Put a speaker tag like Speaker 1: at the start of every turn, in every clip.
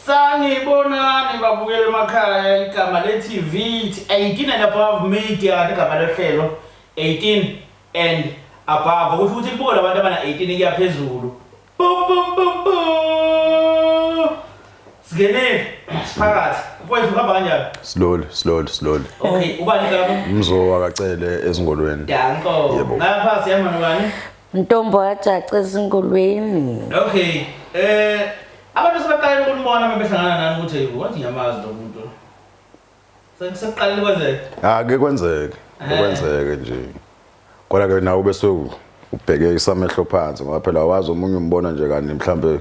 Speaker 1: Sanibonani babukele emakhaya igama le-TV 18 and above media kanti igama lohlelo 18 and above kusho ukuthi libuke labantu abana 18 kuya phezulu. Singenile siphakathi. Mfowethu uhamba kanjani? Slowly, slowly, slowly.
Speaker 2: Okay, ubani
Speaker 1: lapho? Mzowa kacele
Speaker 2: ezingolweni. Danko.
Speaker 1: Ngapha siyama nobani? Ntombo
Speaker 3: yajaca ezingulweni. Okay.
Speaker 1: Eh abantu sebaqalile ukunibona uma behlangana nani ukuthi hey wathi ngiyamazi lo muntu. Sekuqalile kwenzeke. Ah ke
Speaker 2: kwenzeke. Eh. Kwenzeke nje. Kodwa ke nawe bese ubheke isamehlo phansi ngoba phela wazi omunye umbona nje kanti mhlambe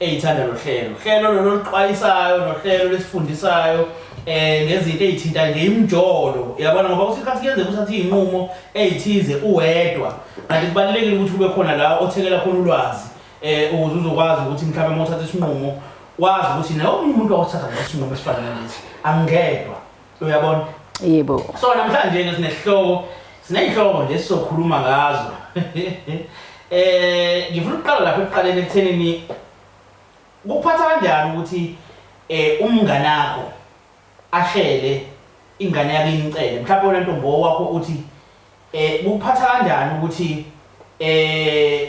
Speaker 1: eyithanda lo hlelo hlelo lolo luxwayisayo nohlelo lesifundisayo eh nezinto ezithinta nje imjolo yabona ngoba usikhathi kuyenzeka uthathe izinqumo ezithize uwedwa kanti kubalekile ukuthi kube khona la othekela khona ulwazi eh ukuze uzokwazi ukuthi mhlawumbe uma uthatha isinqumo wazi ukuthi nawe umuntu wakuthatha ngesinqumo esifanele lesi angedwa uyabona yebo
Speaker 3: so namhlanje ke
Speaker 1: sinesihloko sinezihloko nje sizokhuluma ngazo eh ngifuna ukuqala lapha ekuqaleni ekuthenini kuphatha kanjani ukuthi eh umngane wakho ashele ingane yakhe incele mhlawumbe wena ntombo wakho uthi eh kuphatha kanjani ukuthi eh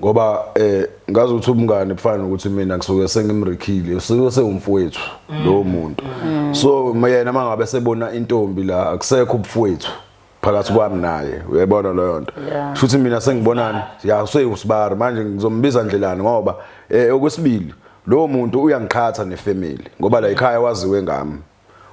Speaker 2: ngoba eh ngazi ukuthi umngane kufana nokuthi mina ngisuke sengimrikhile usuke sewumfowethu mm. lowo muntu mm. so yena mangabe sebona intombi la akusekho ubufowethu phakathi kwami naye uyayibona leyo nto shuthi mina sengibonani ya useyusibari manje ngizombiza ndlelani ngoba eh okwesibili lowo muntu uyangiqhatha nefamily ngoba la ekhaya waziwe ngami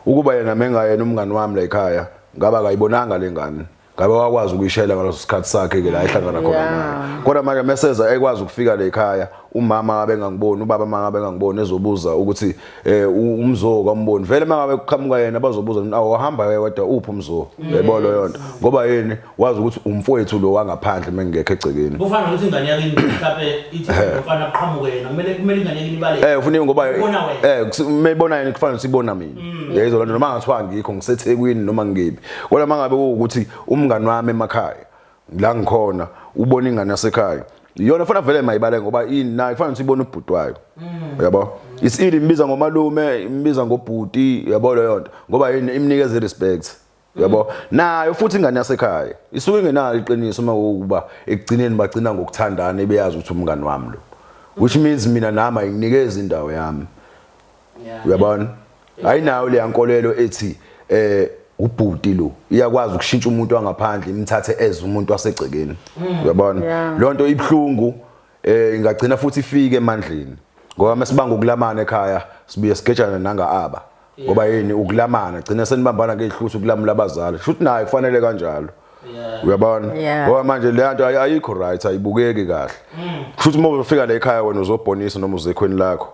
Speaker 2: Ukuba yena mengayena umngani wami la ekhaya ngaba akayibonanga lengane ngabe wakwazi ukuyishayela ngaleso sikhathi sakhe ke la ehlangana khona Yeah. naye kodwa manje meseza ekwazi ukufika la ekhaya umama ngabe ngangiboni ubaba mangabe ngangiboni ezobuza ukuthi eh u- umzoo kamboni vele mangabe kuqhamuka yena bazobuza ukuthi awu wahamba ke wedwa uphi umzoo yebo leyo nto ngoba yini wazi ukuthi umfowethu lo wangaphandle mengekho egcekeni kufana nokuthi ingane
Speaker 1: yakini mhlape ithi umfana aqhamuke yena kumele kumele ingane yakini ibale
Speaker 2: eh ufuna ngoba eh mayibona yena kufana nokuthi ibona mina mm. yezo lonto noma ngathiwa ngikho ngisethekwini noma ngibi kodwa mangabe ukuthi umngani wami emakhaya la ngikhona ubona ingane yasekhaya iyona fana vele mayibale ngoba ini naye kufanele ukuthi ibone ubhuti wayo mm. uyabo isili imbiza ngomalume imbiza ngobhuti uyabo leyo nto ngoba yini imnikeza respect yabo nayo futhi ingane yasekhaya isuke ingenalo iqiniso uma ukuba ekugcineni bagcina ngokuthandana ebeyazi ukuthi umngani wami lo which means mina nami ayinikeza indawo yami uyabona ayinayo le yankolelo ethi eh ubhuti lo iyakwazi ukushintsha umuntu wangaphandle imthathe eze umuntu wasegcekeni mm. uyabona lonto ibhlungu eh ingagcina futhi ifike emandleni ngoba mesibanga ukulamana ekhaya sibuye sigejana nanga aba ngoba yini ukulamana gcina senibambana ngehluthi ukulamula abazali shuthi naye kufanele kanjalo uyabona ngoba manje le nto ayikho right ayibukeki kahle shuthi uma ufika la ekhaya wena uzobhonisa noma uzekhweni lakho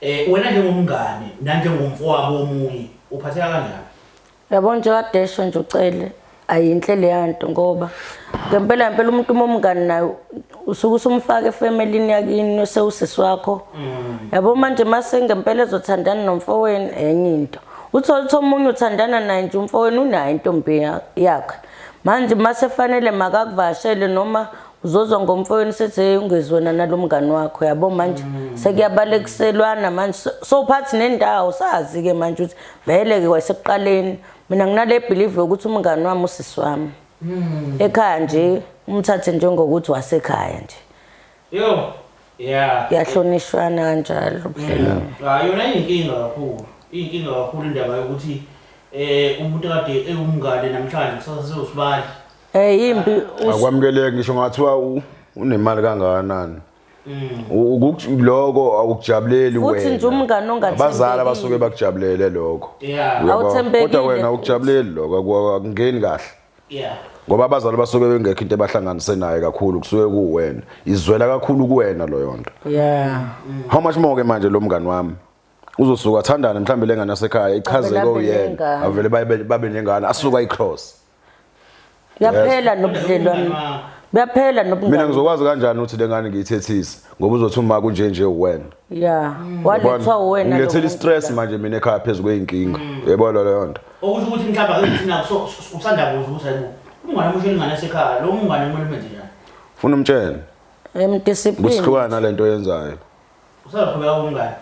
Speaker 1: Eh wena njengomngane nanjengomfowabo womunye uphatheka kanjani? Yabo nje
Speaker 3: kadesho nje ucele ayinhle leyanto ngoba ngempela ngempela umuntu uma umngani naye usuke usumfaka efamilini yakini usewusisi wakho mm. yabo manje mase ngempela ezothandana nomfowenu enye into uthole ukuthi omunye uthandana naye nje umfowenu unayo intombi yakhe manje mase fanele makakuvashele noma Uzozwa ngomfowenu sethi hey ungezi wena nalomngani wakho yabo manje mm. sekuyabalekiselwana manje sowuphathi nendawo sazi ke manje ukuthi vele ke kwasekuqaleni mina nginale believe ukuthi umngani wami usisi wami mm. ekhaya nje umthathe njengokuthi wasekhaya nje yo
Speaker 1: yeah yahlonishwana
Speaker 3: kanjalo ubudlelwano mm. ah, yona inkinga
Speaker 1: kakhulu inkinga kakhulu indaba yokuthi eh umuntu kade ewumngane namhlanje kusasa sewusibali Eh
Speaker 3: impi akwamukeleki
Speaker 2: ngisho ngathiwa unemali kangakanani. Mm. Ukuthi lokho awukujabuleli wena. Futhi nje umngane ongathembekile.
Speaker 3: Abazali abasuke
Speaker 2: bakujabulele lokho. Awuthembekile. Kodwa
Speaker 3: wena awukujabuleli
Speaker 2: lokho akungeni kahle. Yeah. Ngoba abazali basuke bengekho into ebahlanganise naye kakhulu kusuke kuwena. Izwela kakhulu kuwena loyo nto. Yeah. How much more ke manje lo mngane wami? uzosuka athandane mhlawumbe lengane yasekhaya ichazeke oyena avele babe nengane asuka icross
Speaker 3: Yaphela nobudlelwane. Bayaphela nobungani. Mina ngizokwazi kanjani ukuthi
Speaker 2: lengane ngiyithethise ngoba uzothi uma kunje nje uwena. Yeah. Mm. Walethwa
Speaker 3: uwena lo. Ngilethela stress manje
Speaker 2: mina ekhaya phezulu kweinkinga. Mm. Yebo lo leyo nto. Okusho ukuthi mhlawumbe akuthina
Speaker 1: usanda kuzo ukuthi hayibo. Umngane omusho ingane esekhaya lo mngane kumele umenze njani? Funa umtshele.
Speaker 2: Emdiscipline.
Speaker 3: Kusihlukana lento
Speaker 2: yenzayo. Usaqhubeka
Speaker 1: umngane.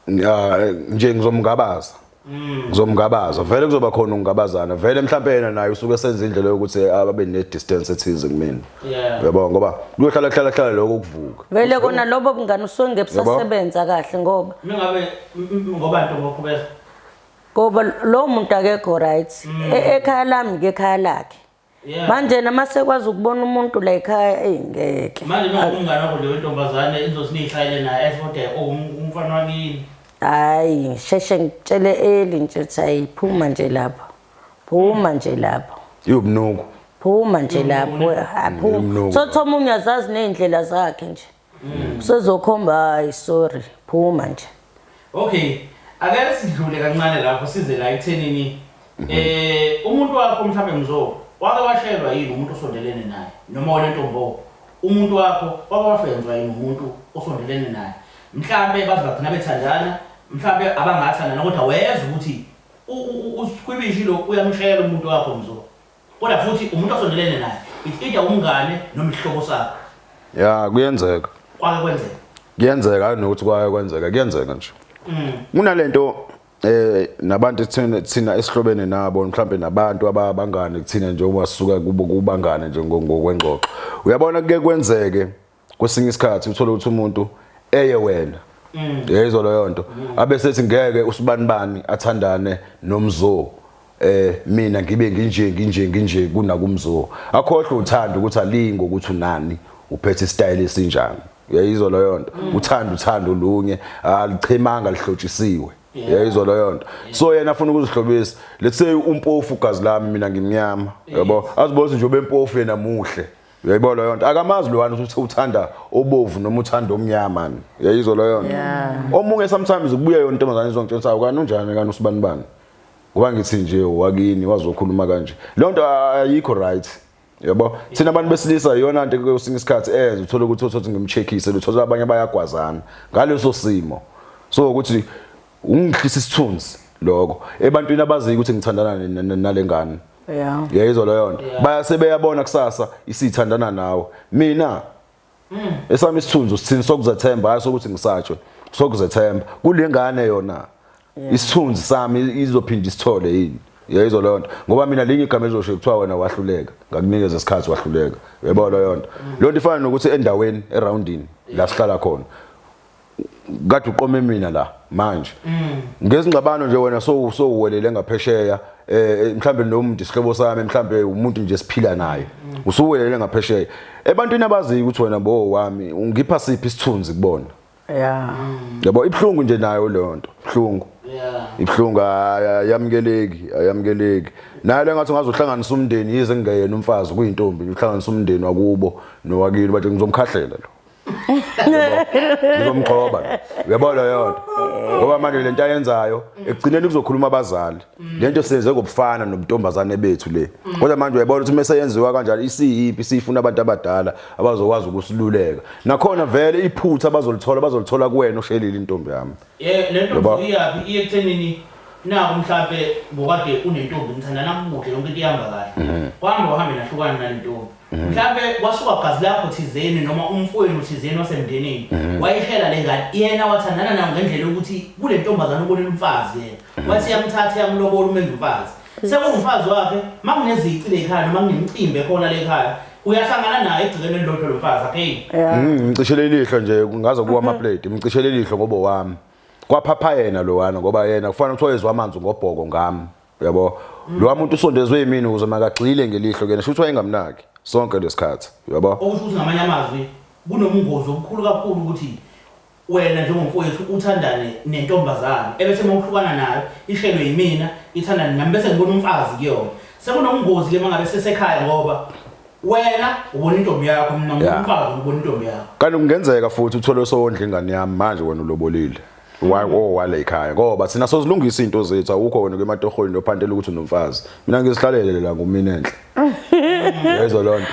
Speaker 2: nje ngizomngabaza mm. ngizomngabaza vele kuzoba khona ukungabazana vele mhlawumbe yena naye usuke senza indlela yokuthi ababe ne distance ethize kumina uyabo ngoba kuyohlala hlala hlala lokho ukuvuka vele kona lobo
Speaker 3: bungani usonge busasebenza kahle ngoba mingabe
Speaker 1: ngoba nto ngokhubeza
Speaker 3: ngoba lo muntu akekho right mm. e-, ekhaya lami ke ekhaya lakhe Yeah. Manje nama sekwazi ukubona umuntu la ekhaya ey ngeke. Manje nokumngane wakho
Speaker 1: leyo ntombazane izothi niyishayele naye esibode umfana wakini. Hayi
Speaker 3: sheshe ngitshele eli nje ukuthi ayiphuma nje lapho. Phuma nje lapho.
Speaker 2: Iwubunungu. Phuma nje
Speaker 3: lapho. Aphuma. Sothi omunye azazi nezindlela zakhe nje. mm. sezokhomba hayi sorry phuma nje okay
Speaker 1: ake sidlule kancane lapho size la ekuthenini mhm. eh umuntu wakho mhlawumbe mzo wake washelwa yini umuntu osondelene naye noma wena ntombo umuntu wakho wake wafenzwa yini umuntu osondelene naye mhlawumbe baze bagcina bethandana mhlawumbe abangathandana kodwa weza ukuthi usikhwibishilo uyamshayela umuntu wakho mzo Kodwa futhi umuntu osondelene naye it's either umngane noma isihlobo sakho. Yeah, kuyenzeka.
Speaker 2: Kwake kwenzeka. Kuyenzeka hayi nokuthi kwake kwenzeka, kuyenzeka nje. Mm. Kunalento eh nabantu thina thina esihlobene nabo mhlambe nabantu ababangane kuthina njengoba sisuka kubo kubangane nje ngokwengxoxo. Uyabona kuke kwenzeke kwesinye isikhathi uthole ukuthi umuntu eye wena mm. yayizwa leyo nto mm. abe sethi ngeke usibanibani athandane nomzoo eh mina ngibe nginje nginje nginje kunakumzoo akhohle uthanda ukuthi alingo ukuthi unani uphethe istyle esinjani uyayizwa leyo nto mm. uthanda uthanda olunye alichemanga lihlotshisiwe yayizwa leyo nto so yena afuna ukuzihlobisa let's say umpofu gazi lami mina ngimnyama yabo azibona nje obempofu yena muhle Uyayibo leyo nto akamazi lowani ukuthi uthanda obovu noma uthanda omnyama ni. Uyayizo leyo nto. Omunye sometimes kubuya yona intombazane izongitshela ukuthi awukani unjani kani usibani bani. Ngoba ngithi nje wakini wazokhuluma kanje. Leyo nto ayikho right. Yabo thina abantu besilisa iyona nto kwesinye isikhathi enze uthole ukuthi uthothi ngimcheckise luthola abanye bayagwazana ngaleso simo. So ukuthi Ungihlisa isithunzi lokho ebantwini abaziyo ukuthi ngithandana nalengane. Yeah. Yayizwa leyo nto. Bayase beyabona kusasa isithandana nawe. Mina mm. esami isithunzi usithini sokuzethemba hayi sokuthi ngisatshwe sokuzethemba kulengane yona isithunzi sami izophinda isithole yini yayizwa leyo nto ngoba mina linye igama elizosho kuthiwa wena wahluleka ngakunikeza isikhathi wahluleka yebo leyo nto leyo nto ifana nokuthi endaweni eroundini la sihlala khona kade uqome mina la manje mm. ngezingxabano nje wena so so uwelele ngaphesheya eh mhlambe nomntu isihlobo sami mhlambe umuntu nje siphila naye mm. usuwelele ngaphesheya ebantwini abaziyo ukuthi wena bo wami ungipha siphi isithunzi kubona yeah mm. yabo ibhlungu nje nayo leyo nto ibhlungu yeah ibhlungu ayamukeleki ayamukeleki naye lengathi ungazohlanganisa umndeni yize ngingeyena umfazi kuyintombi uhlanganisa umndeni wakubo nowakini bathi ngizomkhahlela lo ngizomgxoba uyabo leyo nto ngoba manje lento ayenzayo ekugcineni kuzokhuluma abazali lento senze ngobufana nobuntombazane bethu le kodwa manje uyabona ukuthi mase yenziwa kanjalo isiyiphi siyifuna abantu abadala abazokwazi ukusiluleka nakhona vele iphutha bazolithola bazolithola kuwena oshelile intombi yami eh lento iyaphi iye
Speaker 1: kuthenini naku mhlambe ngokade unentombi nithandana muhle yonke into ihamba kahle kwambe uhamba nahlukana nalentombi Mhm. mhlampe kwasuka gazi lakho thizeni noma umfowenu thizeni wasemndenini mhm. wayihlela le ngane yena wathandana nayo ngendlela yokuthi kule ntombazane ubonile umfazi yena mhm. wathi yamthatha yamlobola umenza umfazi sekungumfazi wakhe uma kunezici le khaya noma kunemcimbi ekhona le khaya uyahlangana naye egcikeni elilodwa lo mfazi apheli ngicishele
Speaker 2: ilihlo nje ngaze kuwa amaplate ngicishele ilihlo ngobo wami kwaphapha yena lowana ngoba yena kufanele ukuthi oyezwa amanzi ngobhoko ngami Uyabo? Lo muntu usondezwe yimini ukuze makagxile ngelihlo kuyena shuthi wayengamnaki sonke lesikhathi. Uyabo? Okusho ukuthi ngamanye amazwi
Speaker 1: kunomungozi omkhulu kakhulu ukuthi wena njengomfowethu uthandane nentombazane ebese uma uhlukana nayo ishelwe yimina ithandane nami bese ngibona umfazi kuyona. Sekunomungozi ke mangabe sesekhaya ngoba wena ubona intombi yakho mina ngibona umfazi ubona intombi yakho. Kanti kungenzeka futhi
Speaker 2: uthole sowondla ingane yami manje wena ulobolile. waleyikhaya ngoba thina sozilungisa izinto zethu awukho wena kwematohweni lophantela ukuthi unomfazi mina ngizihlalele la ngumina enhle yezo lonto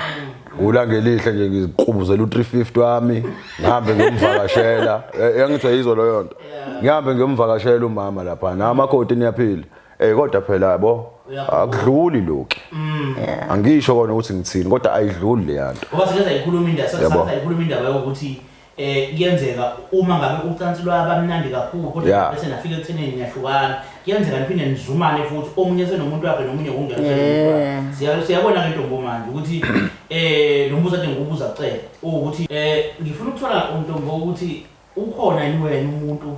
Speaker 2: Ngula ngelihle nje ngiziqubuzela u350 wami ngihambe ngiyomvakashela eh, yangithi yizo leyo nto ngihambe ngiyomvakashela umama lapha na amakoti niyaphila eh kodwa phela yabo akudluli lokho mm. angisho kona ukuthi ngithini kodwa ayidluli le yanto ngoba siyayikhuluma indaba
Speaker 1: siyayikhuluma indaba yokuthi Eh kuyenzeka uma ngabe ucansi lwaba mnandi kakhulu kodwa Yeah. bese nafika ekuthenini niyahlukana. Kuyenzeka niphinde nizumane futhi omunye senomuntu wakhe nomunye kungena senomuntu wakhe. Yeah. Siya- Siyabona ke ntombo manje ukuthi eh lo mbuzo ade ngikubuza kucela ukuthi eh ngifuna ukuthola untombo ukuthi ukhona yini wena umuntu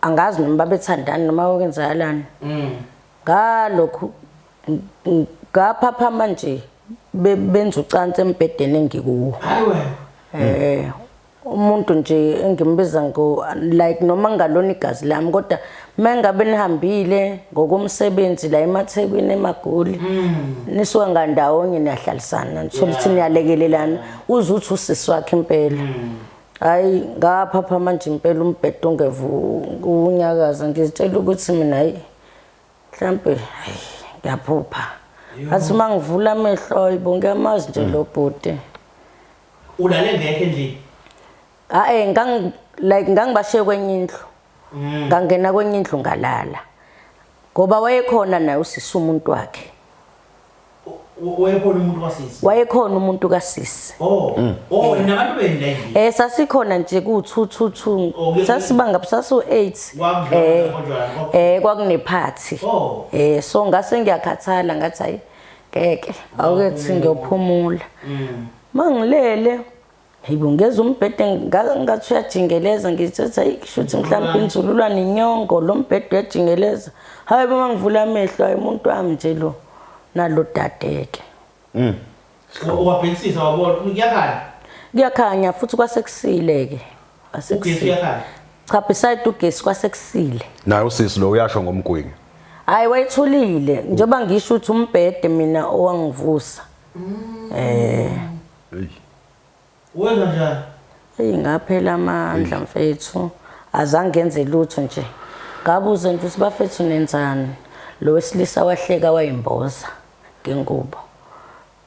Speaker 3: angazi noma babethandani noma okwenzakalani mm. ngalokhu ngaphaphama nje benza ucansi embhedeni engikuwo
Speaker 1: eh umuntu
Speaker 3: nje engimbiza ngo like noma ngalona igazi lami kodwa mengabe nihambile ngokomsebenzi la emathekwini emagoli mm. nisuka ngandawonye niyahlalisana nithola ukuthi niyalekelelana uze uthi usisi wakhe impela mm. hayi ngaphapha manje impela umbhedo ungevu unyakaza ngizitshela ukuthi mina hayi mhlampe hayi ngiyaphupha athi uma ngivula amehlo ayibo ngiyamazi nje lo bhuti
Speaker 1: ulale ngekho endlini hayi ngang
Speaker 3: like ngangibashiye kwenye indlu mm. ngangena kwenye indlu ngalala ngoba wayekhona naye usisa umuntu wakhe Wayekhona umuntu kasisi. Wayekhona umuntu kasisi. Oh. Mm. Oh,
Speaker 1: nabantu beni la endlini. Eh sasikhona nje ku
Speaker 3: 222. Oh, Sasibanga sasu 8. Eh. Eh kwakune party. Oh. Eh so ngase ngiyakhathala ngathi hayi ngeke. Awukethi ngiyophumula. Mm. Mangilele. Hayibo ngeza umbhede ngathi uyajingeleza ngithi hayi kushuthi mhlawumbe inzululwa nenyongo lo mbhede uyajingeleza. Hayi uma ngivula amehlo hayi umuntu wami nje lo nalo dadeke. Mm.
Speaker 1: Wabhekisisa wabona kuyakhanya.
Speaker 3: Kuyakhanya futhi kwasekusile ke. Ugesi uyakhanya. Cha beside ugesi kwasekusile. Naye usisi lo
Speaker 2: uyasho ngomgwingi. Hayi wayethulile
Speaker 3: njengoba ngisho ukuthi umbhede mina owangivusa. Mm. Eh.
Speaker 1: Eyi. Wenza njani? Eyi ngaphela
Speaker 3: amandla mfethu. Azange ngenze lutho nje. Ngabuza nje ukuthi bafethu nenzani. Lo wesilisa wahleka wayimboza ngengubo.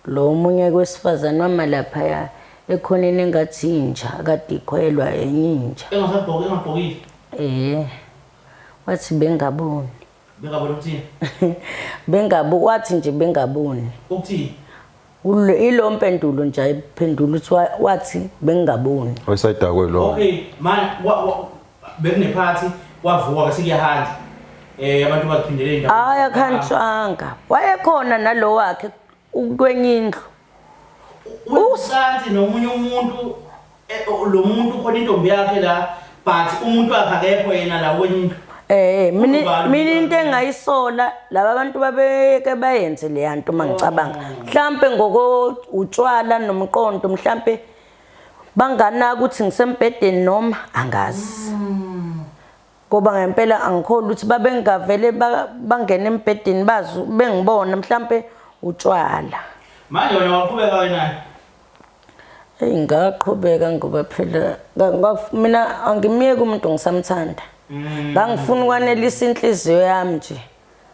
Speaker 3: Lo omunye kwesifazane wama laphaya ekhoneni engathi inja kade ikhwelwa enye inja. Engasagqoki engagqokile.
Speaker 1: Eh.
Speaker 3: Wathi bengaboni.
Speaker 1: Bengaboni ukuthini?
Speaker 3: Bengabu wathi nje bengaboni.
Speaker 1: Ukuthini? Ule ilo
Speaker 3: mpendulo nje ayiphendula uthi wa- wathi bengaboni. Wayesayidakwe lo. Okay, manje
Speaker 2: wa- wa-
Speaker 1: bekunephathi kwavuka bese kuyahanjwa. Eh abantu baziphindele indawo. Hayi akhanjwanga.
Speaker 3: Wayekhona nalowakhe ukwenye indlu. usanti
Speaker 1: nomunye umuntu eh, o- lo muntu khona intombi yakhe la but umuntu wakhe akekho yena la wenye into Eh, mina Ubani
Speaker 3: mina into ubani? engayisola laba bantu babeke bayenze leya nto uma ngicabanga mhlampe ngoko utshwala nomqondo mhlampe banganaka ukuthi ngisembhedeni noma angazi ngoba ngempela angikholwa ukuthi babengavele bangena embhedeni bazi bengibona mhlampe utshwala manje wena waqhubeka
Speaker 1: wena eyi ngaqhubeka
Speaker 3: ngoba phela mina angimyeki umuntu ngisamthanda mm. ngangifuna ukwanelisa inhliziyo yami nje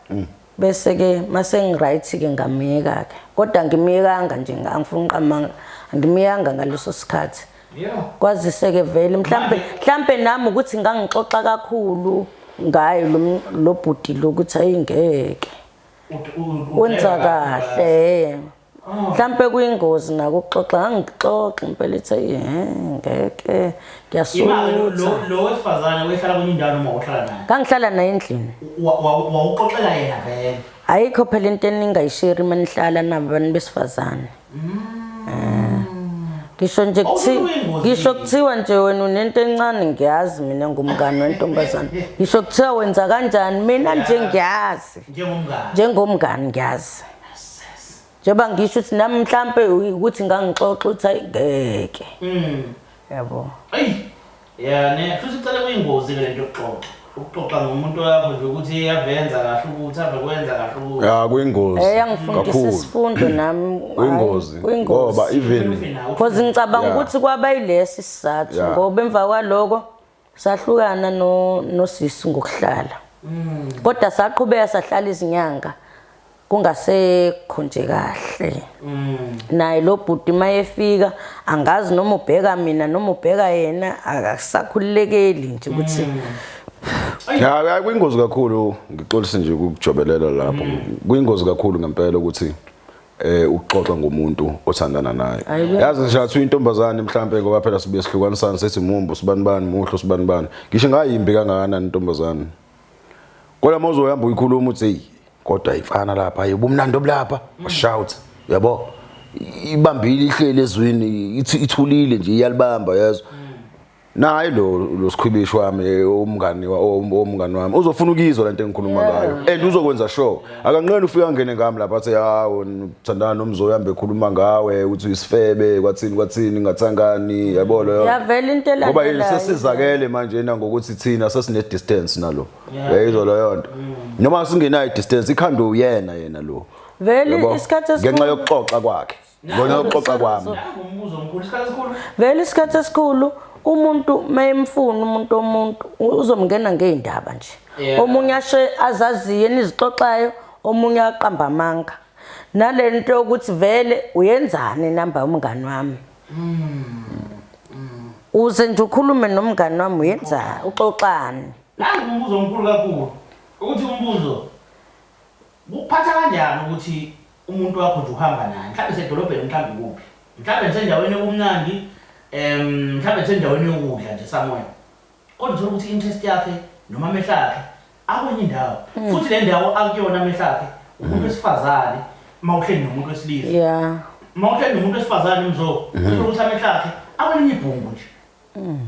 Speaker 3: mm. bese ke masengiright ke ngamyeka ke kodwa ngimyekanga nje angifuni uqamanga angimyekanga ngaleso sikhathi kwazise ke vele mhlambe mhlambe nami ukuthi ngangixoxa kakhulu ngaye lo bhuti lokuthi ayingeke wenza kahle mhlampe kuyingozi nako ukuxoxa angixoxi impela ithe ehe ngeke ngiyasutha lo
Speaker 1: wesifazane wehlala kwenye indawo noma uhlala naye ngangihlala naye endlini
Speaker 3: wawuxoxela
Speaker 1: yena vele ayikho phela into
Speaker 3: eningayisheri uma nihlala nabo abantu besifazane mm. eh. ngisho nje ngisho kuthiwa nje wena unento encane ngiyazi mina ngumngane wentombazane ngisho kuthiwa wenza kanjani mina nje ngiyazi njengomngane ngiyazi njengoba ngisho ukuthi nami mhlampe ukuthi ngangixoxa ukuthi hayi ngeke mm. yabo eyi
Speaker 1: ya ne futhi cela kuyingozi ke lento yokuxoxa ukuxoxa ngomuntu wakho nje ukuthi eyavenza kahle ukuthi ave kwenza kahle ukuthi ya kuyingozi eh
Speaker 2: yangifundisa
Speaker 3: isifundo nami kuyingozi
Speaker 2: ngoba even because ngicabanga
Speaker 3: ukuthi kwaba yilesi sizathu ngoba emva kwaloko sahlukana no nosisi ngokuhlala mm. kodwa saqhubeka sahlala izinyanga kungasekho nje kahle mm. naye lo bhuti mayefika angazi noma ubheka mina noma ubheka yena akasakhululekeli nje ukuthi
Speaker 2: mm. ya kuyingozi kakhulu ngixolise nje ukujobelela lapho mm. kuyingozi kakhulu ngempela ukuthi eh ukuxoxa ngomuntu othandana naye yazi nje athi intombazane mhlambe ngoba phela sibe sihlukanisana sethi mumbu sibani bani muhlo sibani bani ngisho ngayimbi kangakanani intombazane kodwa mawuzo uhamba uyikhuluma uthi hey kodwa ifana lapha yebo umnandi obulapha shout yabo ibambile ihlele ezwini ithulile nje iyalibamba yazo naye lo lo sikhwibishi wami eh, umngani wa- om- omngani wami uzofuna ukuyizwa lento engikhuluma ngayo and uzokwenza sure akanqeni ufika ngene ngami lapha athi hawo ngithandana nomzoyi hambe ekhuluma ngawe ukuthi uyisifebe kwathini kwathini ngathangani yabo leyo Uyavela into elandelayo.
Speaker 3: ngoba yini sesizakele
Speaker 2: manje na ngokuthi thina sesine distance nalo yayizwa leyo nto noma singenayo distance ikhanda uyena yena lo Vele Yabo? isikhathi
Speaker 3: esikhulu- ngenxa yokuxoxa
Speaker 2: kwakhe Ngona uxoxa kwami. Umbuzo omkhulu isikhathi
Speaker 1: esikhulu. Vele isikhathi esikhulu
Speaker 3: umuntu mayemfuna umuntu omuntu uzomngena ngeindaba nje. Omunye ashe azaziye nizixoxayo omunye aqamba amanga. Nalento yokuthi vele uyenzani namba umngani wami. Mm. Uze nje ukhulume nomngani wami uyenzani uxoxani. Nangu umbuzo
Speaker 1: omkhulu kakhulu ukuthi umbuzo kuphatha kanjani ukuthi Umuntu wakho nje uhamba naye. Mhlawumbe sedolobheni mhlawumbe kuphi. Mhlawumbe nisendaweni yokumnandi, um mhlawumbe nisendaweni yokudla nje somewhere. Kodwa uthola ukuthi interest yakhe noma amehlo akhe akwenye indawo. Mm. Futhi le ndawo akuyona amehlo akhe umuntu wesifazane uma uhleli nomuntu wesilisa. Yeah. Uma uhleli nomuntu wesifazane mzo, uthola ukuthi amehlo akhe akwenye ibhungu nje. Mm.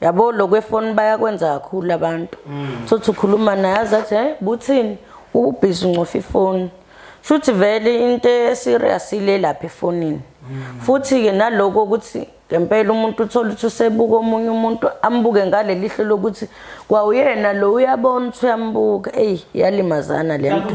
Speaker 3: yabo lokwefoni bayakwenza kakhulu abantu mm. sothi ukhuluma naye azathi hey buthini ubhizi uncofa ifoni shuthi vele into eserious ile lapha efonini mm. futhi ke naloko ukuthi ngempela umuntu uthola ukuthi usebuka omunye umuntu ambuke ngale lihlo lokuthi kwawuyena lo uyabona ukuthi uyambuka eyi yalimazana le nto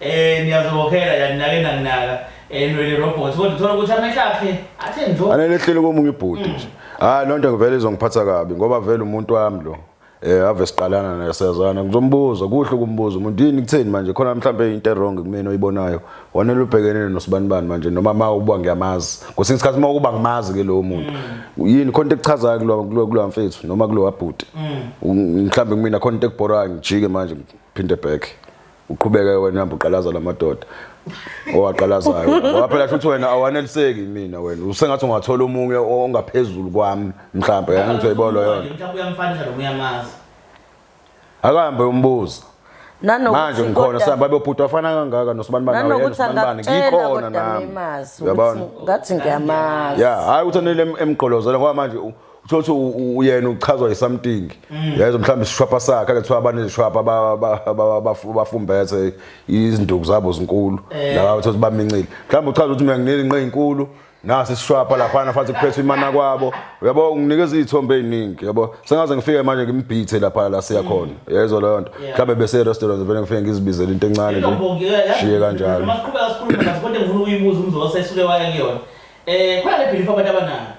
Speaker 1: Eh niyazokhela yani nake nanginaka enwele robot kodwa uthola ukuthi amehla akhe athe njo. Anele ehlele komunye ibhuti
Speaker 2: nje. Hayi lonto ngivele izongiphatha kabi ngoba vele umuntu wami lo. Eh ave siqalana naye siyazana ngizombuza kuhle ukumbuza umuntu yini kutheni manje khona mhlambe into wrong kumina oyibonayo wanele ubhekenene nosibani bani manje noma ma ubuwa ngiyamazi kwesinye isikhathi uma ukuba ngimazi ke lowo muntu yini khona into ekuchazayo kulo kulo kulo mfethu noma kulo wabhuti mhlambe kumina khona into ekubhorayo ngijike manje phinde back uqhubeke wena uhamba uqalaza lamadoda owaqalazayo ngoba phela futhi wena awaneliseki mina wena usengathi ungathola omunye ongaphezulu kwami mhlawumbe yangithi uyibolo yona mhlawumbe uyamfanisa lo
Speaker 1: uyamazi
Speaker 2: akahambe umbuzo manje
Speaker 3: ngikhona sihamba
Speaker 2: bebhuti wafana kangaka nosibani bani nawe nosibani bani ngikhona nami yabona
Speaker 3: ngathi ngiyamazi ya hayi ukuthi anele
Speaker 2: emgqolozela ngoba manje uthola ukuthi uyena uchazwa yisamting mm. yayizwa mhlawumbe isishwapha sakhe ake kuthiwa abanezishwapha bafumbethe izinduku zabo zinkulu eh. laba uthola ukuthi bamincile mhlawumbe uchaza ukuthi mina nginelinqe ezinkulu nasi isishwapha laphana futhi kuphethe imana kwabo uyabo unginikeza izithombe eziningi yabo sengaze ngifike manje ngimbhithe lapha la siya mm. khona yezwa leyo nto mhlawumbe bese restaurant vele ngifike ngizibizele into encane nje shiye kanjalo uma siqhubeka sikhuluma ngathi
Speaker 1: kodwa ngifuna ukuyibuza umzosa esuke waya kuyona eh khona le belief abantu abanayo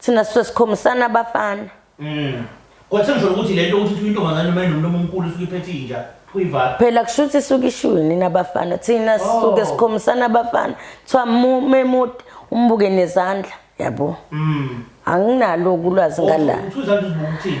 Speaker 3: Thina sisuke sikhomisana abafana. Mm.
Speaker 1: Kodwa sengisho ukuthi lento ukuthi uthi intombazane noma inomlomo omkhulu isuke iphethe inja kuyivala. Phela kusho ukuthi isuke
Speaker 3: ishiwe nini abafana. Thina sisuke Oh. sikhomisana abafana. Kuthiwa mu- memude umbuke nezandla. Yabo. Mm. Anginalo ulwazi ngala. Uthi uzange uzibuke ukuthini?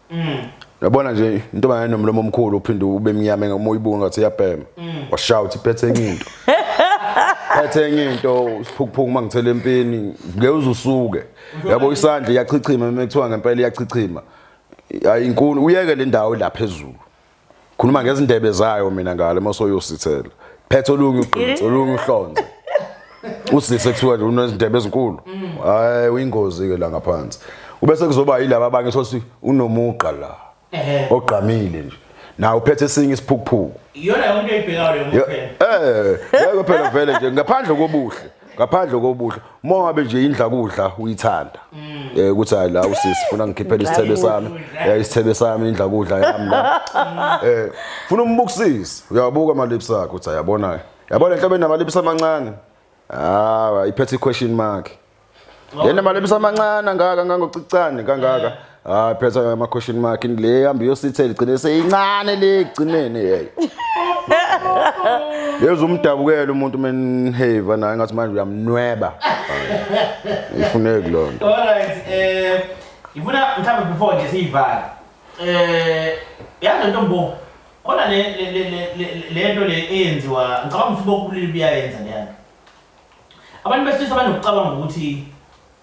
Speaker 2: mm. yabona nje intombazane nomlomo omkhulu uphinde ube mnyama ngoba uyibuka ngathi iyabhema mm. washaya uthi phethe enye into phethe enye into isiphukuphuku uma ngithela empini ngeke uzusuke yabo isandla iyachichima uma kuthiwa ngempela iyachichima ayinkulu uyeke le ndawo la phezulu khuluma ngezindebe zayo mina ngale mosoyosithela phethe olunye uqinisa olunye uhlonze usisi ekuthiwa nje unezindebe ezinkulu hayi uyingozi ke la ngaphansi ubese kuzoba yilaba abanye sothi unomugqa la ogqamile nje nawe uphethe esinye isiphukuphuku iyona yonke
Speaker 1: ibhekayo leyo eh yeke phela vele
Speaker 2: nje ngaphandle kobuhle ngaphandle kobuhle uma ngabe nje indla kudla uyithanda mm. eh ukuthi hayi la usisi funa ngikhiphele isithebe sami ya eh, isithebe sami indla kudla yami la mm. eh funa umbukisise uyabuka ama lips akhe uthi yabona yabona enhlobeni nama lips amancane ah iphethe question mark Yena mali ebisamancane angaka ngangocicane kangaka. Hayi phetha ama question mark le hamba yosithela igcine seyincane le igcinene hey. Yeza umdabukela umuntu menhave naye ngathi manje uyamnweba. Ifuneki lonto. All right eh
Speaker 1: ngifuna mhlawumbe before nje siyivale. Eh yazi lento mbo khona le le le lento le eyenziwa ngicabanga ukuthi bokubulili buyayenza leyana. Abantu besilisa banokucabanga ukuthi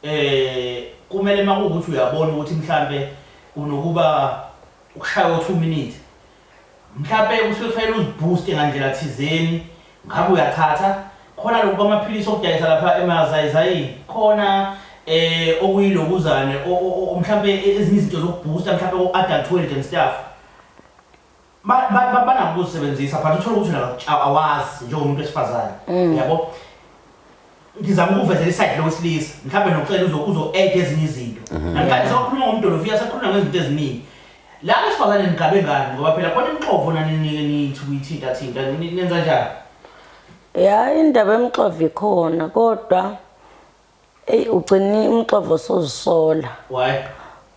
Speaker 1: um kumele uma kuwukuthi uyabona ukuthi mhlampe unokuba ukushaya o-two minute mhlampe kusuke kufanele uzibhuste ngandlela thizeni ngabe uyathatha khona lokhu kwamaphilisi okudayisa lapha emazayizayini khona eh okuyilokuzane mhlambe ezinye izinto zokubooster mhlambe o-adultweld and stuff banako ukuzisebenzisa but uthole ukuthi wena awazi njengomuntu wesifazane mm. yabo ngizama ukuvezela isayidi lowesilisa mhlawumbe nokucela uzo-add ezinye izinto mhm. namhlanje sewakhuluma ngomdolofiya sekhuluma ngezinto eziningi la besifazane nigabe ngani ngoba phela khona imixovo naninike nithi kuyithintathinta nenza njani ya
Speaker 3: indaba emxova ikhona kodwa Eyi ugcine umxovo sozisola.
Speaker 1: Why?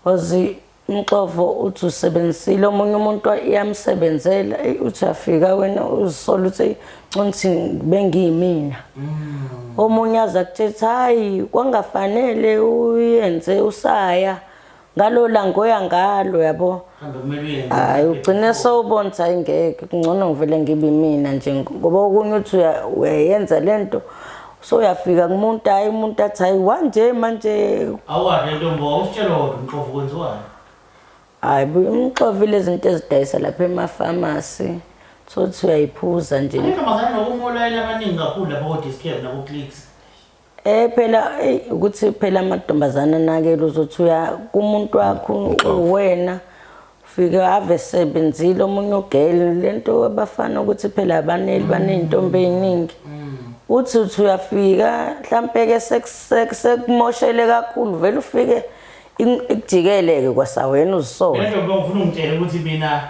Speaker 1: Wazi
Speaker 3: umxovo uthi usebenzisile omunye umuntu iyamsebenzela eyi uthi uyafika wena uzisola uthi nconthi bengiyimina. Mm. Omunye aze akutshela ukuthi hayi kwangafanele uyenze usaya ngalo langoya ngalo yabo hayi ugcine sowubona ukuthi hayi ngeke kungcono ngivele ngibe mina nje ngoba okunye uthi uyayenza le nto so uyafika kumuntu hayi umuntu athi hayi wanje manje awuwade ntombo
Speaker 1: awusitshela kodwa umxovu kwenziwayo
Speaker 3: hayi umxovu ilezi nto ezidayisa lapha emafamasi so uthi
Speaker 1: uyayiphuza
Speaker 3: nje
Speaker 1: intombazane nokumolalela abaningi
Speaker 3: kakhulu
Speaker 1: lapha kodiscam nakuclicks Eh
Speaker 3: phela ukuthi phela amadontombazana anakele uzothi uya kumuntu wakho uwena fike ave sebenzile omunye ugele lento abafana ukuthi phela abaneli baneyintombi eziningi uthi uthi uyafika mhlampe ke sekumoshele kakhulu vele ufike ikujikele ke kwasawena uzisona lento ngifuna ungitshele
Speaker 1: ukuthi mina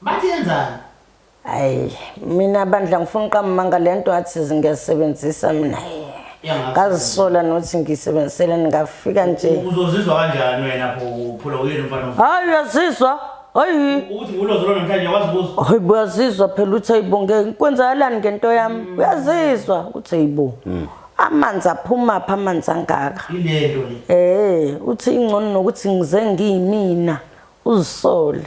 Speaker 3: Bathi
Speaker 1: yenzani? Hayi,
Speaker 3: mina bandla ngifuna uqamanga lento athi ngiyasebenzisa mina. Ngazisola nothi ngisebenzisele ngafika nje. Uzozizwa kanjani
Speaker 1: wena pho uphula uyena umfana omfana? Hayi uyazizwa.
Speaker 3: Hayi. Ukuthi ngulozolo
Speaker 1: namhlanje wazi kuzo. Hayi uyazizwa
Speaker 3: phela uthi ayibonge kwenzakalani ngento yami. Mm. Uyazizwa uthi ayibo. Mm. amanzi aphuma pha amanzi angaka ilento le
Speaker 1: eh uthi ingcono
Speaker 3: nokuthi ngize ngiyimina uzisole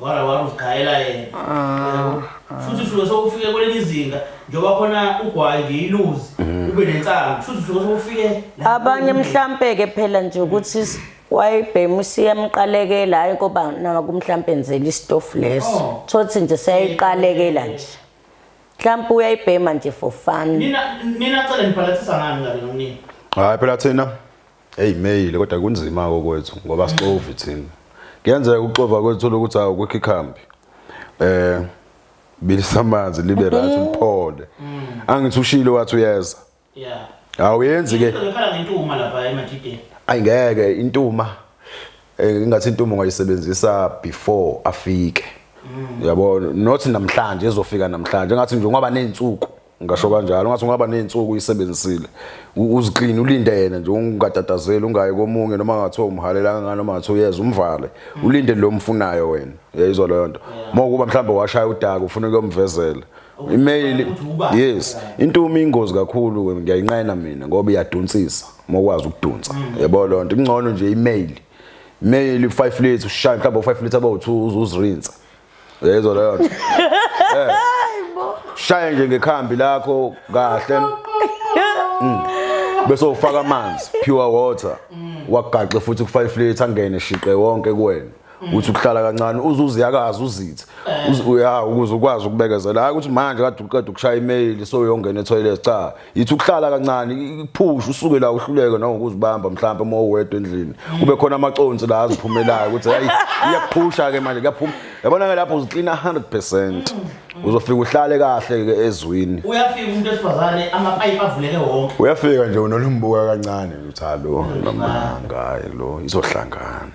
Speaker 1: wara wara uzigayela yena Yabo? shuthi suke sokufike kwelinye izinga njengoba khona ugwayi nje iluzi ube nensangu shuthi suke sokufike la- abanye mhlampe-ke
Speaker 3: phela nje ukuthi s- wayibhema usiyamqalekela hhayi koba naku mhlampe enzela isitofu leso Oh. thothi nje seyayiqalekela nje mhlampe uyayibhema nje for fun nina nina cele
Speaker 1: nibhalathisa ngani ngane nomnini hayi phela thina
Speaker 2: Hey mail kodwa kunzima kokwethu ngoba sixovi thina. Kuyenzeka ukuxova kwethu lokuthi awu kwikho ikhambi. Eh bilisa amanzi libe right uphole. Angithi ushile wathi uyeza. Yeah. Awuyenzi ke. Ngikhala ngentuma lapha
Speaker 1: emadideni. Ayingeke
Speaker 2: intuma eh, ingathi intuma ungayisebenzisa before afike. Mm. Yabo not namhlanje ezofika namhlanje ngathi nje ngoba nezinsuku. ngasho kanjalo ngathi ungaba nezinsuku uyisebenzisile uzixini ulinde yena nje ungatatazeli ungayi komunye noma ngathiwa umhalela kangani noma ngathiwa uyeza umvale mm. ulinde lo mfunayo wena yayizwa leyo nto uma ukuba mhlawumbe washaya udaka ufuna ukuyomvezela email yes intumo ingozi kakhulu ngiyayinqena mina ngoba iyadunsisa uma ukwazi ukudunsa mm. yabo leyo nto ingcono nje email mail 5 liters ushaya mhlawumbe 5 liters abawu2 uzuzirinsa Yezwa leyo nto. Eh. Shaya nje ngekhambi lakho kahle. Mm. Bese ufaka amanzi, pure water. Wagaxe futhi ku 5 liter angene shiqe wonke kuwena. Uthi ukuhlala kancane uzuziyakaza uzithe. Uzi- Uya ukuze ukwazi ukubekezela. Hayi ukuthi manje kade uqeda ukushaya email so uyongena etoilet cha. yithi ukuhlala kancane iphusha usuke la uhluleke nangokuzibamba mhlawumbe uma uwedwa endlini kube khona amaconsi la aziphumelayo ukuthi hayi iyaphusha ke manje kuyaphuma yabona ke lapho uziklina 100% uzofika uhlale kahle ke ezwini uyafika umuntu esifazane
Speaker 1: amapipe avuleke wonke uyafika nje unolumbuka
Speaker 2: kancane uthi hallo mama ngayi lo izohlangana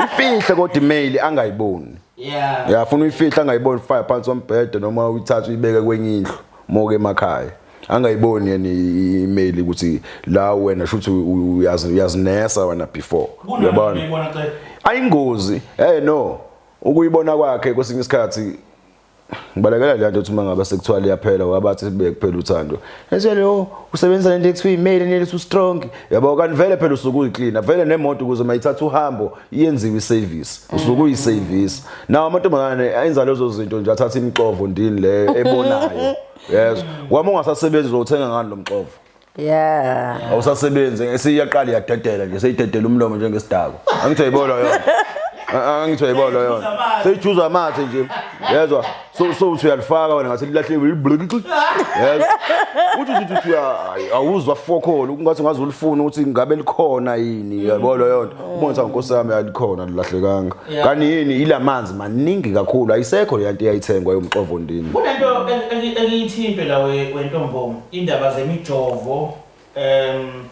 Speaker 2: ifihle kodwa email angayiboni yeah yafuna uyifihla angayiboni fire phansi ombhede noma uyithatha uyibeke kwenye indlu Moke emakhaya. Angayiboni yena i-email ukuthi la wena shuthi uyazi uyazinesa wena before. Uyabona? Ayingozi. Hey no. Ukuyibona kwakhe kwesinye isikhathi ngibalekela le nto ukuthi uma ngabe sekuthiwa liyaphela wabathi sibuye kuphela uthando esele o oh, usebenzisa lento ekuthiwa imeli neli su strong yabo kanti vele phela usuke uyiclean vele nemoto ukuze mayithatha uhambo yenziwe isevisi usuke uyisevisi nawo amantombazane enza lezo zinto nje athatha imixovo ndini leyo ebonayo yezwa wami ungasasebenzi uzothenga ngani lo mxovo yeah
Speaker 3: awusasebenzi
Speaker 2: esiyaqala yadedela nje seyidedela umlomo njengesidako angithi ayibona yona angithi ayibona yona seyijuza amathe nje yezwa so so uthi uyalifaka wena ngathi lilahlekile liblink uthi uthi uthi uthi hayi awuzwa fokholo kungathi ngaze ulifuna ukuthi ngabe likhona yini yabo leyo nto ubona ukuthi nkosi yami alikhona lilahlekanga Yeah. kanti yini ilamanzi maningi kakhulu ayisekho le nto eyayithengwa yomxovo ndini kunento eng- engi-
Speaker 1: engiyithinte la we- wentombongo indaba zemijovo um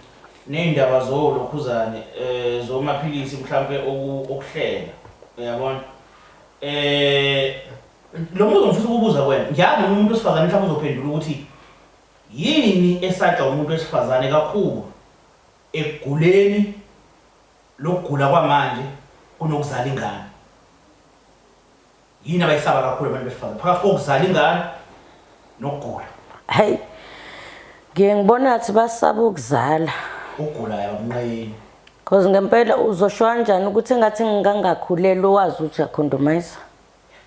Speaker 1: ney'ndaba zolokhuzane um zomaphilisi mhlawumpe oku- okuhlela uyabona Eh lo mbuzo ngifisa ukubuza kuwena. Ngiyazi noma umuntu wesifazane mhlawumbe uzophendula ukuthi yini esatshwa umuntu wesifazane kakhulu ekuguleni lokugula kwamanje kunokuzala ingane. Yini abayisaba kakhulu abantu besifazane phakathi kokuzala ingane nokugula hayi
Speaker 3: ngiye ngibona athi basaba ukuzala ugula
Speaker 1: yamnqeni cause ngempela
Speaker 3: uzosho kanjani ukuthi engathi ngingangakhuleli wazi ukuthi uyakhondomayisa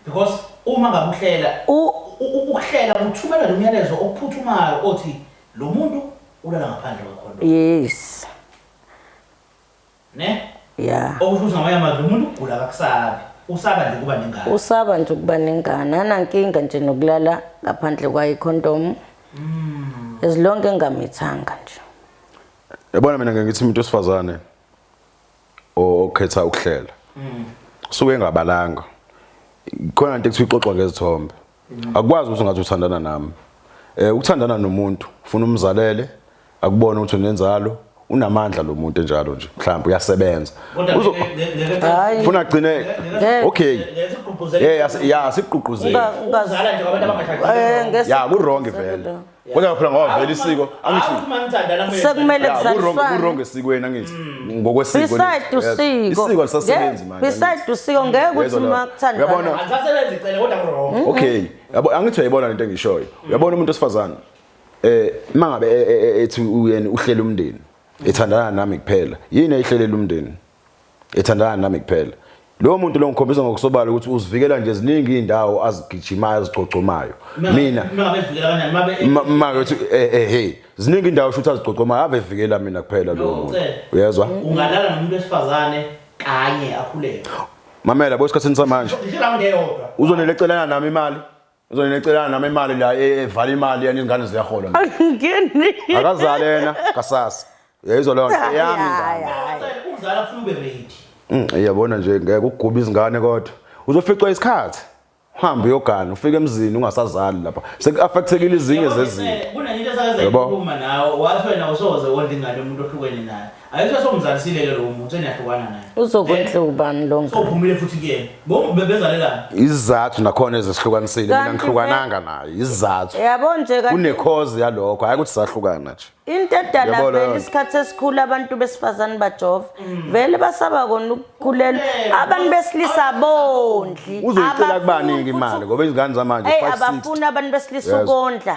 Speaker 3: because
Speaker 1: uma ngakuhlela ukuhlela kuthumela lo myalezo okuphuthumayo othi lo muntu ulala ngaphandle kwekhondomu yes Ne? Yeah. Okusho ukuthi ngamanye
Speaker 3: amazwi umuntu
Speaker 1: ugula kakusabi. Usaba nje ukuba nengane. Usaba nje ukuba
Speaker 3: nengane. Anankinga nje nokulala ngaphandle kwayi condom. Mm. As long engamithanga nje. Yabona
Speaker 2: mina ngeke ngithi umuntu osifazane okhetha ukuhlela. Mm. Suke engabalanga. Khona into ekuthiwa ixoxwa ngezithombe. akwazi ukuthi ngathi uthandana nami eh ukuthandana nomuntu ufuna umzalele akubona ukuthi unenzalo unamandla lo muntu enjalo nje mhlawumbe uyasebenza Hayi. ufuna agcine Ngeke. okay eh yas- ya sigqugquzela Unga- ungazi- Ukuzala nje kwabantu
Speaker 1: abangashadile. Eh, ngesi- ya kurongi vele
Speaker 2: kodwa phela ngoba vele isiko angithi Awuthi uma nithandana mele-
Speaker 1: Sekumele Yeah, kuwrong-
Speaker 3: kuzaliswane. kuwrong esikweni angithi
Speaker 2: ngokwesiko beside lethu. Yes. usiko
Speaker 3: isiko alisasebenzi
Speaker 2: Nge- manje beside usiko ngeke Yezwa
Speaker 3: ukuthi la. uma kuthandana Uyabona? Angisasebenzi icele
Speaker 2: kodwa
Speaker 1: wrong. okay yabo
Speaker 2: angithi uyayibona lento engishoyo uyabona umuntu osifazane eh mangabe e- e- e- ethi uyena uhlela umndeni ethandana nami kuphela yini ayihlelela umndeni ethandana nami kuphela lowo muntu lo ngikhombisa ngokusobala ukuthi uzivikela nje ziningi izindawo azigijimayo azigcogcomayo mina
Speaker 1: uma ukuthi eh,
Speaker 2: eh hey ziningi indawo shuthi azigcogcomayo ave vikela mina kuphela lowo muntu uyezwa ungalala nomuntu
Speaker 1: wesifazane kanye akhuleke mamela
Speaker 2: bosikhathini samanje
Speaker 1: uzonelecela nami
Speaker 2: imali Uzonina ecelana nami imali la e- evala imali yani izingane ziyahola nje. Angingeni.
Speaker 3: Akazale yena
Speaker 2: kasasa. Uyayizwa leyo nto eyami Hayi, ingane. hayi. Umzala ufuna
Speaker 1: ube ready. Mm, Iyabona nje ngeke
Speaker 2: ukuguba izingane kodwa. Uzoficwa isikhathi. Uhambe uyogana ufike emzini ungasazali lapha. Sekuaffectekile izinye zezinto. Kunenye into esake Yebo.
Speaker 1: sayikhuluma nawe wathi wena usoze wondla ingane umuntu ohlukene naye. Ayikho somzalisile ke lo muntu eniyahlukana naye. Uzokwenza ubani
Speaker 3: lo ngane? Sophumile futhi kuyena.
Speaker 1: Ngoba bebezalelana. Izizathu
Speaker 2: nakhona ezihlukanisile mina Kanti ngihlukananga nayo. Izizathu. Yabo nje kanti
Speaker 3: Kunekhozi yalokho
Speaker 2: hayi ukuthi sahlukana nje. into edala Yabo vele
Speaker 3: leyo- isikhathi esikhulu abantu besifazane bajova vele basaba kona ukukhulelwa abantu besilisa abondli Uzoyicela abafuni kubani-ke
Speaker 2: futhi- imali ngoba izingane zamanje Eyi, 560. abafuni abantu besilisa
Speaker 3: Yes. ukondla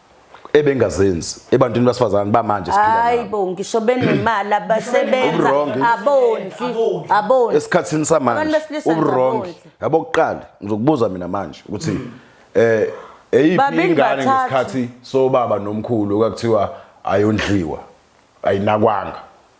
Speaker 2: ebengazenzi ebantwini basifazane bamanje siphila nabo hayibo ngisho
Speaker 3: benemali abasebenza Uwrong. abondli Abondli. abondli esikhathini Abantu samanje besilisa
Speaker 2: uwrong ngabondli. yabo kuqala ngizokubuza mina manje ukuthi eh eyiphi Babili ingane bathathu. ngesikhathi sobaba nomkhulu okuthiwa ayondliwa ayinakwanga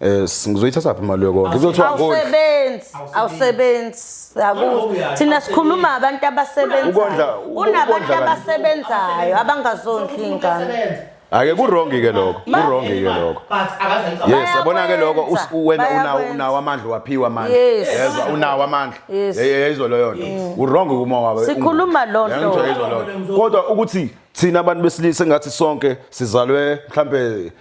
Speaker 2: Eh ngizoyithatha phi imali yokondla? Ngizothiwa awusebenzi, awusebenzi.
Speaker 3: Akuthi thina sikhuluma abantu abasebenzayo. Unabantu abasebenzayo abangazondli ingane. Ake kurongi
Speaker 2: ke lokho, kurongi ke lokho. Yes, yabona ke lokho wena unawo unawo amandla waphiwa amandla. Yezwa unawo amandla. Yeyizwa leyo nto. Mm. Urongi kuma wawe. Sikhuluma
Speaker 3: lo nto. Kodwa
Speaker 2: ukuthi thina abantu besilisa ngathi sonke sizalwe mhlambe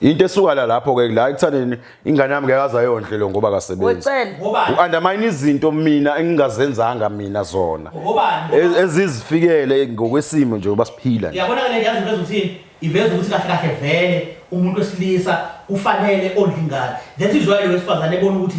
Speaker 1: Into esuka la
Speaker 2: lapho ke la ekuthaneni ingane yami ngeke azayondle lo ngoba kasebenzi. U-undermine izinto mina engingazenzanga mina zona. E-, ezizifikele ngokwesimo nje uba siphila. Yabona ke le yazi iveza ukuthi
Speaker 1: iveza ukuthi kahle kahle vele umuntu wesilisa ufanele ondlingane. That is why lo wesifazane ebona ukuthi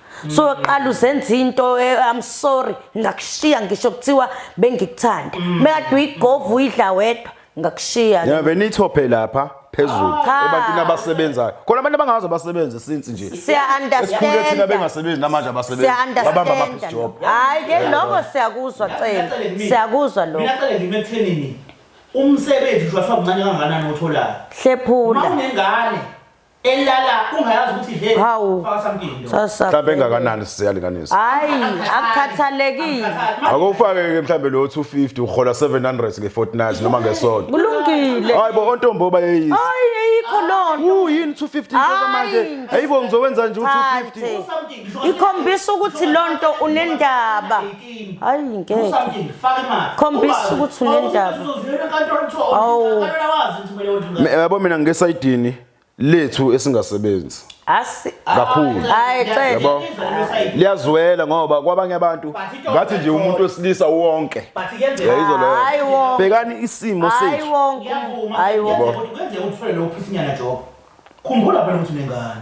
Speaker 3: so qala uzenza into eh, i'm sorry ngakushiya ngisho kuthiwa bengikuthanda mekade mm. uyigovu uyidla wedwa ngakushiya yeah benithophe
Speaker 2: lapha phezulu ebantwini abasebenzayo khona abantu abangazi abasebenzi since nje siya understand
Speaker 3: thina bengasebenzi
Speaker 2: namanje abasebenzi babamba ama job hayi ke lokho
Speaker 3: siyakuzwa cela siyakuzwa lokho mina cela ngimethenini
Speaker 1: umsebenzi nje wafa mncane kangakanani otholayo hlephula
Speaker 3: unengane
Speaker 1: elala ungayazi ukuthi he Hawu. faka something lo Sasa. mhlawumbe engakanani
Speaker 2: siyalinganisa Hayi,
Speaker 3: akukhathalekile. akufake-ke
Speaker 2: mhlawumbe lo 250 uhola 700 nge-fortnight noma ngesonto Kulungile. hayi bo
Speaker 3: ontombo
Speaker 2: bayeyisa Hayi, ayikho
Speaker 3: lonto. uyini 250 impela
Speaker 2: manje Hayi. hayibo ngizokwenza nje u-250 Thathe. something ngisho Ikhombisa ukuthi
Speaker 3: lonto unendaba. hayi ngeke khombisa ukuthi unendaba
Speaker 2: awu yabo mina ngesayidini lethu esingasebenzi asi kakhulu hayi cela liyazwela ngoba kwabanye abantu ngathi nje umuntu wesilisa wonke yayizwa leyo bhekani
Speaker 3: isimo
Speaker 2: sethu hayi wonke hayi
Speaker 3: wonke kwenze uthule lo
Speaker 1: phisinyana job khumbula phela ukuthi unengane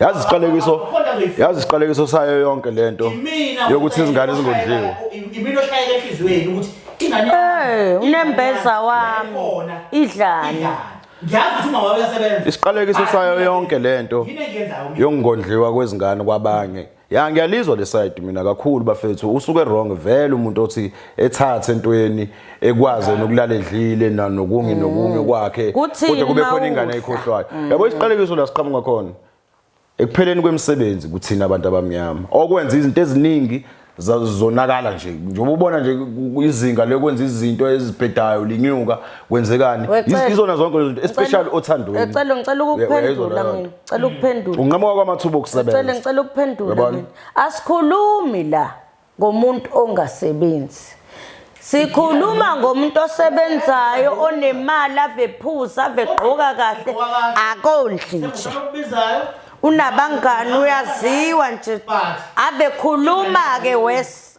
Speaker 1: yazi isiqalekiso
Speaker 2: yazi isiqalekiso sayo yonke lento yokuthi izingane zingondliwe imini oshayeke
Speaker 1: enhliziyweni ukuthi ingane eh unembeza
Speaker 3: wami idlani ngiyazi ukuthi
Speaker 1: umama uyasebenza isiqalekiso sayo
Speaker 2: yonke lento
Speaker 1: yokungondliwa kwezingane
Speaker 2: kwabanye Ya ngiyalizwa le side mina kakhulu bafethu usuke wrong vele umuntu othi ethathe entweni ekwaze nokulala edlile na nokungi nokungi mm. kwakhe kodwa kube khona ingane ayikhohlwayo mm. yabo isiqalekiso la siqhamuka khona ekupheleni kwemisebenzi kuthina abantu abamnyama okwenza izinto eziningi zonakala nje njengoba ubona nje izinga lokwenza izinto ezibhedayo linyuka kwenzekani izona zonke lezinto especially othandweni ngicela ngicela ukuphendula
Speaker 3: mina ngicela ukuphendula unqamuka kwamathuba okusebenza
Speaker 2: ngicela ngicela ukuphendula mina
Speaker 3: asikhulumi la ngomuntu ongasebenzi sikhuluma ngomuntu osebenzayo onemali avephuza avegqoka kahle akondli nje unabangani uyaziwa nje abekhuluma ke wes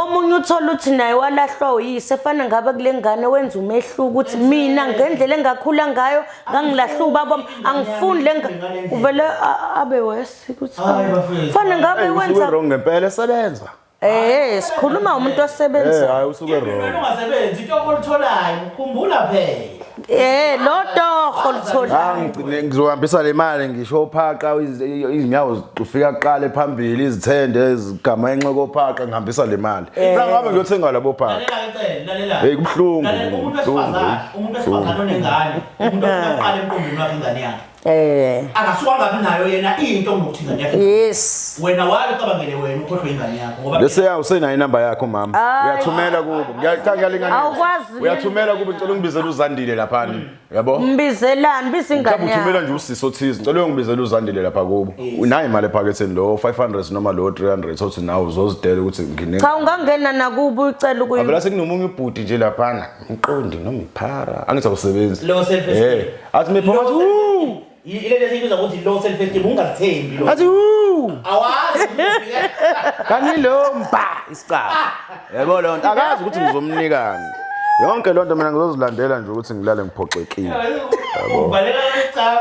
Speaker 1: omunye uthola ukuthi
Speaker 3: naye walahlwa uyise fana ngaba kule ngane wenza umehluko ukuthi mina ngendlela engakhula ngayo ngangilahlwa ubaba angifuni le uvele abe wesi ukuthi fana ngabe wenza wrong ngempela esebenza
Speaker 2: Eh sikhuluma
Speaker 3: umuntu osebenza. Eh hayi usuke wrong. Umuntu
Speaker 2: ongasebenzi into
Speaker 1: okolitholayo ukhumbula phela. Eh lo
Speaker 3: torho litholayo. Ah, ngigcine ngizohambisa le
Speaker 2: mali ngisho ophaqa iz- izinyawo zifika kuqale phambili izithende zigama enxoko ophaqa ngihambisa le mali. Sangabe ngiyothenga labo phaqa. Lalela ke Cele, lalela. Hey,
Speaker 1: kubuhlungu, Lalela,
Speaker 2: umuntu kubuhlungu, wesifazane, umuntu wesifazane
Speaker 1: onengane, umuntu ofuna kuqala emqondweni wakhe ingane yakhe. Eh. Akasuka kabi nayo yena into ngokuthi ingane yakhe. Yes. Wena wali
Speaker 3: cabangele
Speaker 1: wena ukhohlwe ingane yakho ngoba bese ya usena inamba
Speaker 2: yakho mama. Uyathumela kubo. Ngiyacanga lengane. Awukwazi. Uyathumela
Speaker 3: kubo ngicela
Speaker 2: ungibizele uzandile lapha. Mm. Yabo? Mbizelani bise
Speaker 3: ingane yakho. Ngicela uthumela nje usisi othize.
Speaker 2: Ngicela ungibizele uzandile lapha kubo. Unayo imali ephaketheni lo 500 noma lo 300 othi nawo uzozidela ukuthi ngine. Cha ungangena nakubo
Speaker 3: ucela ukuyi. Abela sekunomunye ubhuti
Speaker 2: nje lapha. Ngiqondi noma iphara. Angithi akusebenzi. Low self esteem. Eh,
Speaker 1: athi mephuma athi
Speaker 2: wuu. Ile lezi
Speaker 1: into ukuthi low self esteem ungazithembi lo. Athi wuu.
Speaker 2: Awazi. Kanti lo mba isicaba. Yebo lo nto akazi ukuthi ngizomnikani. Yonke lo nto mina ngizozilandela nje ukuthi ngilale ngiphoxekile. Yebo. Ubaleka
Speaker 1: icaba.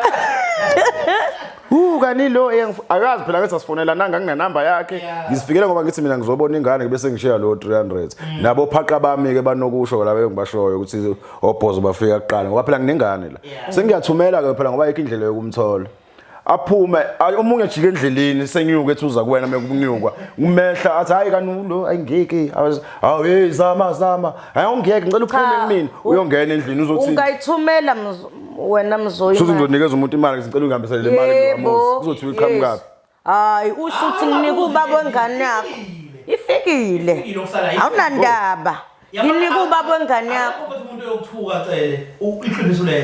Speaker 1: Hu
Speaker 2: kani lo eyangif- akazi phela ngathi asifonelananga nginenamba yakhe Yeah. ngizifikele ngoba ngithi mina ngizobona ingane bese ngishiya lo 300 Mm. nabo phaqa bami ke banokusho laba engibashoyo ukuthi obhozo bafika kuqala ngoba phela nginengane la Yeah. sengiyathumela ke phela ngoba ayikho indlela yokumthola aphume ay- omunye ajike endleleni senyuke ethi uza kuwena mekunyukwa umehla athi hayi kani lo ayingeke hawu hey zama zama hayi ungeke ngicela uphume Cha, kumina u- uyongena endlini uzothini ungayithumela mz-
Speaker 3: wena mzoyi shuthi ngizonikeza umuntu imali
Speaker 2: ngicela ungihambisele le mali kulomuzi kuzothi uyiqhamukaphi hayi usho
Speaker 3: ukuthi nginika ubaba wengane yakho ifikile awunandaba nginika ubaba wengane yakho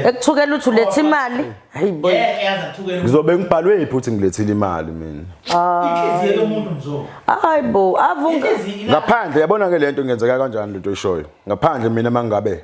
Speaker 1: ekuthukela uthi uletha
Speaker 3: imali ngizobe
Speaker 1: ngibhalwe yiphi ukuthi
Speaker 2: ngilethile imali mina
Speaker 1: hayi bo
Speaker 3: ngaphandle yabona-ke
Speaker 2: le nto ngenzeka kanjani lento oyishoyo ngaphandle mina uma ngabe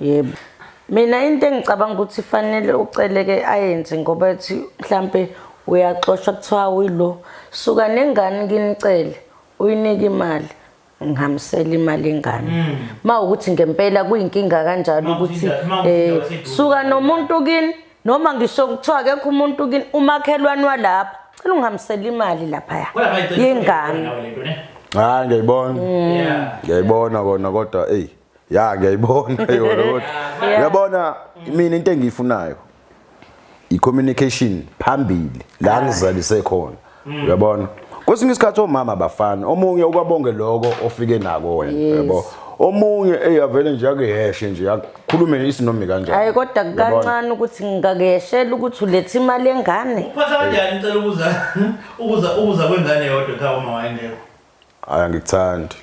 Speaker 1: yebo
Speaker 3: mina into engicabanga ukuthi fanele uceleke ayenze ngoba ethi mhlampe uyaxoshwa kuthiwa uyilo suka nengane kinicele uyinike imali ngihambisela imali ingane hmm. ma ukuthi ngempela kuyinkinga kanjalo ukuthi eh suka nomuntu kini noma ngisho kuthiwa akekho umuntu kini umakhelwane walapha cela ungihambisela imali lapha ya yingane hayi
Speaker 2: ngiyibona hmm. ngiyibona kona kodwa hey ya ngiyayibona yona kodwa uyabona mina into engiyifunayo i-communication phambili la ngizalise khona uyabona kwesinye isikhathi omama abafani omunye ukwabonge loko ofike nako wena yabo omunye eyavele nje akuyeshe nje akhulume isinomi kanjani hayi kodwa kancane
Speaker 3: ukuthi ngingakuyeshela ukuthi ulethe imali engane uphatha kanjani ngicela
Speaker 1: ukuza ukuza ukuza kwengane yodwa ekhaya uma wayengekho Hayi
Speaker 2: angikuthandi.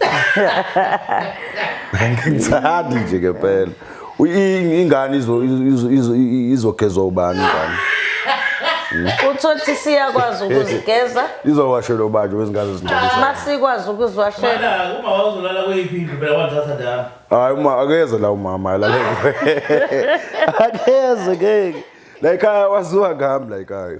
Speaker 2: Angikuthandi nje ke phela. Ingane izo izo izogezwa ubani ingane?
Speaker 3: Uthothi siyakwazi ukuzigeza. Izowashelwa ubanje
Speaker 2: wezingane zingcolisa. Uma sikwazi ukuziwashela.
Speaker 3: Uma wazolala
Speaker 1: kuyiphi indlu phela wathatha ndaba. Hayi uma akeze
Speaker 2: la umama alale. Akeze ngeke. La ekhaya waziwa ngami la ekhaya.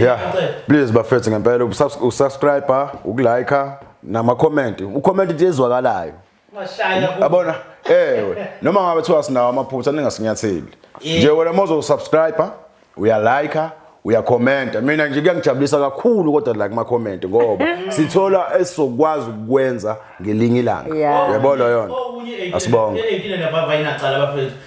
Speaker 1: Yeah.
Speaker 2: Please bafethu ngempela usubscribe, ukulike nama comment. Ucomment nje ezwakalayo. Abona ewe noma ngabe thiwa sinawo amaphutha ningasinyatheli. Nje wena mozo subscribe, uyalike uyakhomenta mina nje kuyangijabulisa kakhulu kodwa la kuma comment ngoba sithola esizokwazi ukwenza ngelinye ilanga yebo lo yona asibonge